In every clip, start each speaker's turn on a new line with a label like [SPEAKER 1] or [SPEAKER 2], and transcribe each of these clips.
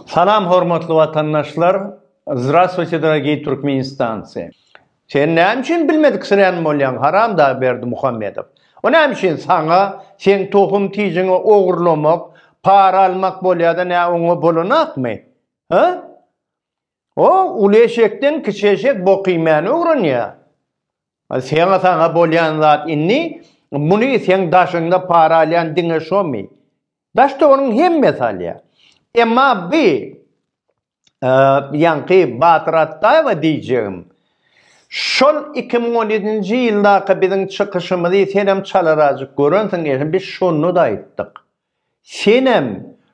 [SPEAKER 1] Salam hormatly watandaşlar Zdrastwuyte dorogiý Türkmenistancy Sen näme üçin bilmediksirän bolýaň haram dag Berdimuhamedow O näme üçin saňa seň tohum tijiňi ogurlamak para almak bolýada nä oňa bolanakmy ha O uly eşekden kiçi eşek bok iýmäni öwrenýä Seňe saňa bolýan zat indi muny seň daşyňda para alýan diňe şomy Daşda onuň hemmesi alýa. Emma bi ýaňky Batyr Atdaýewa diýjegim, şol iki müň on ýedinji ýyldaky biziň çykyşymyzy senem çalarazjyk görensiň eýsem biz şonda-da aýtdyk. Senem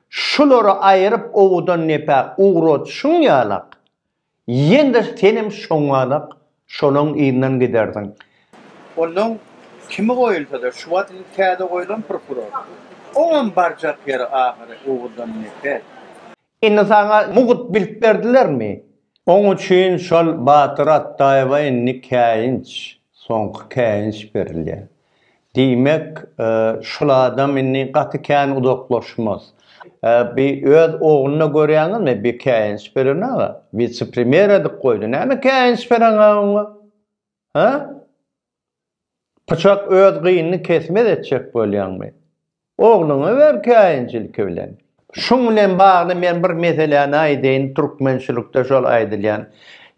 [SPEAKER 1] şulary aýyryp owudan nepä ugradyşyň ýalak, Ýene-de senem şoňalak şolaň yzyndan gidersiň. Onnoň kimi goýulsa-da, şu wagt indi täze goýlan prokuror. Oňam barjak ýeri ahyry Oguzdan neper. Indi saňa mugt bilt berdilermi? Oň üçin şol Batyr Atdaýewa indi käýinç, soňky käýinç berilýär. Diýmek, şul adam indi gaty kän uzaklaşmaz. Bi öz ogluna görýäňizmi bi käýinç beren aga? Wise-premýer edip goýdy. Näme käýinç bereňä oňa? Hä? Pyçak öz gynyny kesmez etjek bolýaňmy? Ogluňa ber käýinç ilki bilen. Şuň bilen bagly men bir meseläni aýdaýyn türkmençilikde şol aýdylýan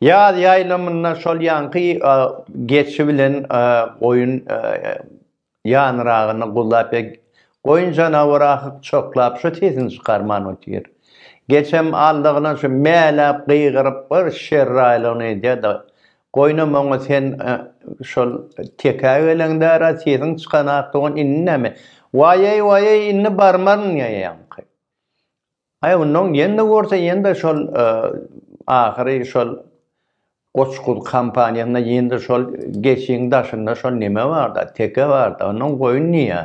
[SPEAKER 1] ýaz ýaýlamynda şol ýaňky geçi bilen goýun ýanyragynda guzlap ýa goýun janawar ahyk çoklap şu sesini çykarman otyr geçem aldygyna şu mäläp gygyryp bir şerraýlygyny edýä da Goýna moňa sen şol tekä geleňdära sesiň çykanak dogan indi näme? Waýeý waýeý indi barmaryn ýaňky. Aý onnoň ýende gorse ýende şol ahyry şol goçguz kampaniýasynda ýende şol geçiň daşynda şol neme barda teke barda onnoň goýun niýe?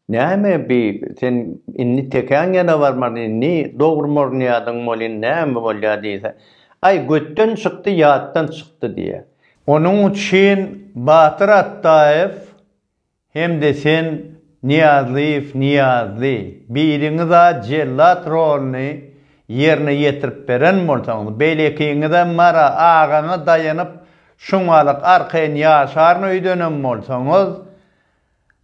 [SPEAKER 1] Näme bi sen indi tekäň ýana barmady indi dogry mornyýadyň bolýn näme bolýa diýse aý götden çykdy ýatdan çykdy diýä. Onuň üçin Batyr Atdaýew hem-de sen Nyýazlyýew Nyýazly biriňiz-a jellat rolyny ýerine ýetirip beren bolsaňyz beýlekiňiz-ä Mara agaňa daýanyp şuňalyk arkaýyn ýaşaryn öýdenem bolsaňyz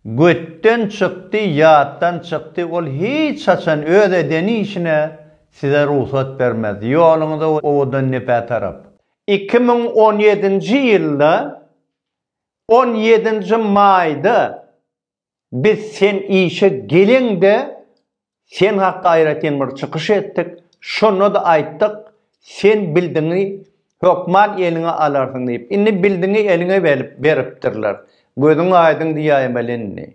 [SPEAKER 1] Götden çykdy, ýatdan çykdy, ol hiç haçan öz eden işine size rugsat bermez. Ýoluňyza owadan nepä tarap. Iki müň on ýedinji ýylda on ýedinji maýda biz sen işe geleňde Sen hakda aýratyn bir çykyş etdik, şonda-da aýtdyk, sen bildiňi hökman eliňe alarsyň diýip. Indi bildiňi eliňe beripdirler. Gözüň aýdyň diýäýmeli indi.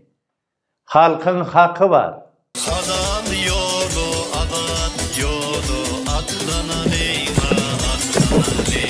[SPEAKER 1] Halkyň haky bar. Hazal ýoly azat ýoly atlanaliňa atlanaliň.